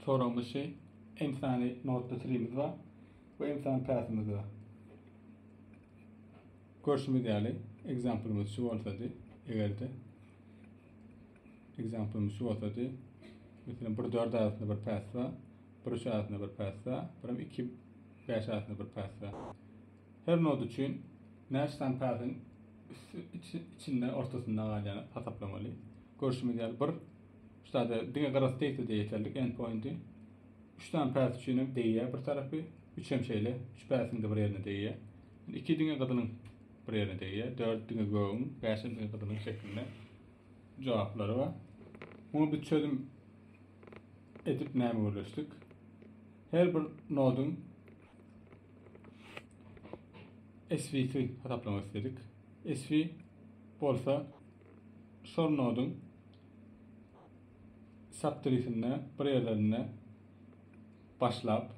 Soraglyşy Insany Note-da Sirimiz bar we Insany Path-ymyz bar. Görşümiz ýaly, example-ymyz şu bolsady, eger-de example-ymyz şu bolsady, meselem, bir dört arasynda bir path bar, bir üç arasynda bir path bar, birem iki bäş arasynda bir path bar. Her node üçin näçe sany pathyň içinde ortasynda galýany hasaplamaly. Görşümiz ýaly, bir Şu zada diňe gyrasy degse-de ýeterlik, endpointi. Üç sany päs üçin hem degýär bir tarapy. Üç hem şeýle. Üç päsiň-de bir ýerine degýär. Indi iki diňe gyzylyň bir ýerine degýär. Dört diňe gögüň, bäş hem diňe gyzylyň şeklinde jogaplary bar. Muňa biz çözüm edip näme gürleşdik? Her bir noduň SV-si hasaplamak istedik. SV bolsa şol noduň subtrisinde bir ýerlerinde başlap,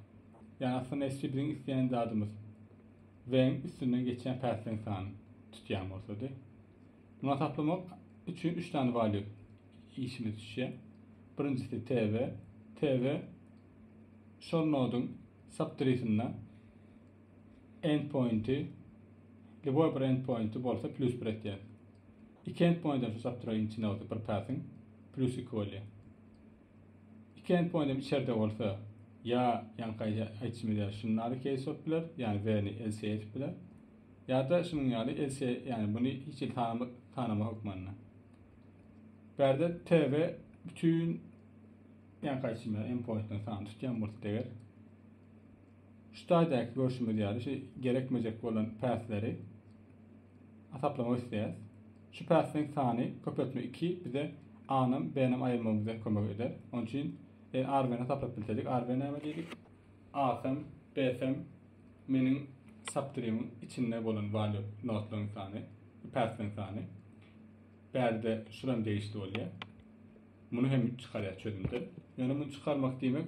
ýa aslynda esli biziň isleýän zadymyz weň üstünden geçýän päsleň sany tutýan bolsady. Muňa taplamak üçin 3 sany value işimiz düşýär. Birinjisi TV. TV şol noduň subtrisinde endpointi, ljuboý bir endpointi bolsa plus bir etýär. Iki endpointen şu subtraýyň içinde bolsa bir passiň plýus iki bolýar. Iki endpointem içerde bolsa ýa ýaňky aýtşymyz ýaly şuny nary case bolup biler, ýagny where-ni else edip biler. Ýa-da şunuň ýaly else, ýagny buny hiç hili sanama, sanama hökmanda. Bärde tv bütin ýaňky aýtşym ýaly endpointden sany tutýan bolsa eger Şu taýdaky görşümiz ýaly şu gerekmejek bolan päsleri hasaplamak isleýäs. Şu päsleriň sany köpeltme iki bize A-nam, B-nam aýyrmagymyza kömek eder. Oň üçin eger Arbeni hasaplap bilsedik, Arbe näme diýdik? A-sam, B-sam meniň subtrimiň içinde bolan valýu notlaryň sany, päsleriň sany. Bärde şulam degişli bolýar. Muny hem çykarýar çözümde. Ýöne muny çykarmak diýmek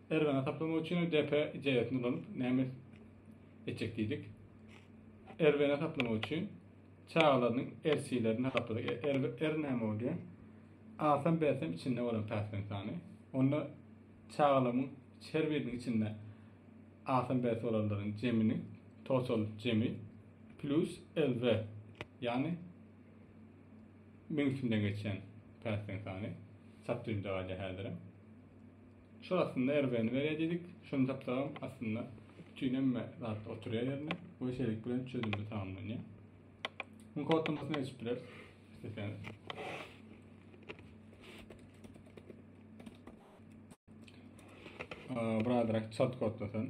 Erbany hasaplamak üçin DP ideýasyny ulanyp näme etjek diýdik. Erbany hasaplamak üçin çagalarynyň RC-lerini hasapladyk. E, er, er näme bolýar? Alsam bersem içinde bolan päsgen sany. Onda çagalamyň her biriniň içinde alsam berse bolanlaryň jemini, total jemi plus LV. Ýagny mümkünden geçen päsgen sany. Çap düzümde galýar häzirem. Şol aslynda RB-ni berýär diýdik. Şuny tapsagam aslynda bütün hemme zat oturýar ýerine we şeýlelik bilen çözümimiz tamamlanýar. Muň kodlamasyny geçip bileris. Isleseňiz. Ee, Biraderak çalt kodlasan.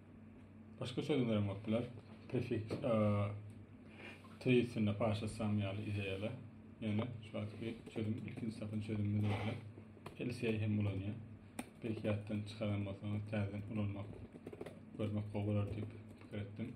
Başga sözler hem bolup biler. Prefiks tezisinde paşa sam ýaly ideýalar. Ýöne şu wagtky çözüm ilkinji sapyň çözümini berdi. LCA hem ulanýar. Belki ýatdan çykaran bolsaňyz täzeden ulanmak, görmek gowy bolar diýip pikir etdim.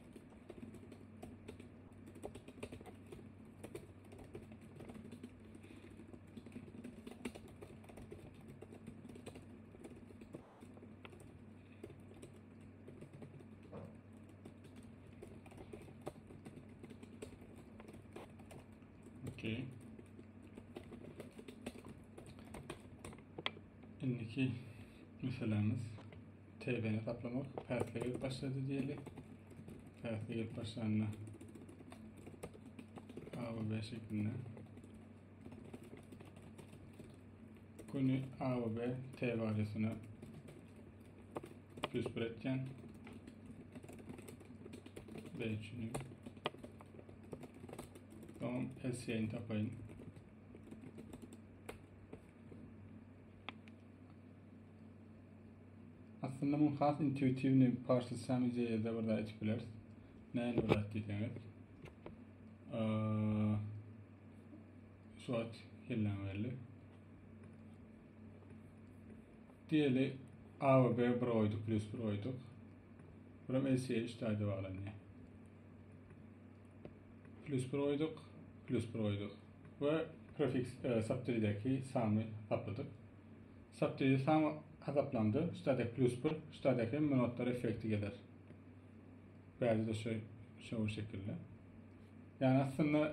Okey. Şimdiki meselemiz TB-ni gaplamak päsli gelip başlady diýeli. Päsli gelip başlanda A we B şeklinde. Köni A we B T waliýasyna plus bir etýän. B üçin. Tamam, SC'ni tapayım. Aslynda muny has intuitiwny parsyçaň ideýada bir zat aýdyp bileris. Näme bir zat diýseňiz. Şu wagt hellän geldi. Diýeli A we B bir goýduk, plus bir goýduk. Buram LCA 3 taýda baglanýar. Plus bir goýduk, plus bir goýduk. Ve prefiks e, subtrideki samy tapladyk. Satdyýew saňa gazaplandy, ştada plus bir, ştada hem minutlar effekti geler. Bäde-de şu şo şekilli. Ýani aslynda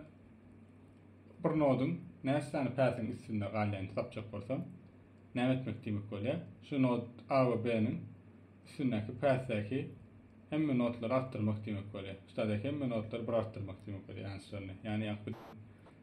bir noduň näçe sany päsiň üstünde galýanyny tapjak bolsaň, näme etmek diýmek bolýar? Şu nod A we B-niň üstündäki päsdäki hemme nodlary artdyrmak diýmek bolýar. Ştada hemme nodlary bir artdyrmak diýmek bolýar, ýançyralyny. Ýani ýaňky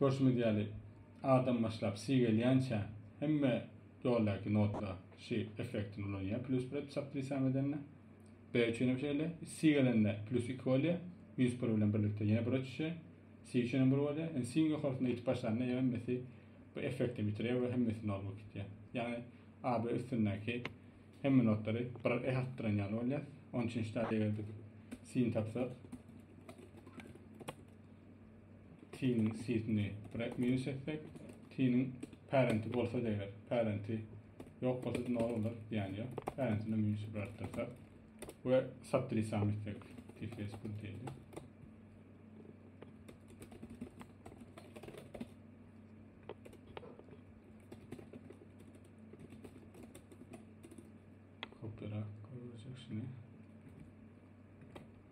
Görşümiz ýaly, adam başlap si gelýänçä hemme ýoldaky notlar şi effektini ulanýar, plýus bir edip çap diýsam edende. Be üçin hem şeýle, si gelende plýus iki bolýar, minus bir bilen birlikde ýene bire düşýär, si üçin hem bir bolýar. Indi siň ýokarsyna ýetip başlanda ýa hemmesi bu effektini bitirýär we hemmesi nol bolup gidýär. Ýagny AB üstündäki hemme notlary bir eh artdyran ýaly bolýar. Onuň üçin şitade eger biz sini tapsak, T-niň sitini bräk minus etsek, T-niň parenti bolsady eger, parenti ýok bolsady nol bolar, zyýany ýok. Parentine minus bir artdyrsak we subtrisam etsek, tfs bir diýeli. Kopyrak görjek şini.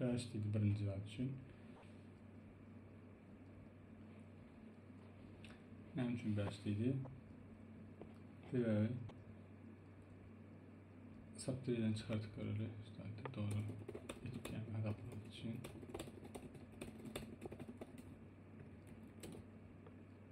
Bäş diýdi birinji zat üçin. Näme üçin bäş diýdi? Sebäbi saptyrdan çıkartıp göreli. İşte doğru etken azaplar için.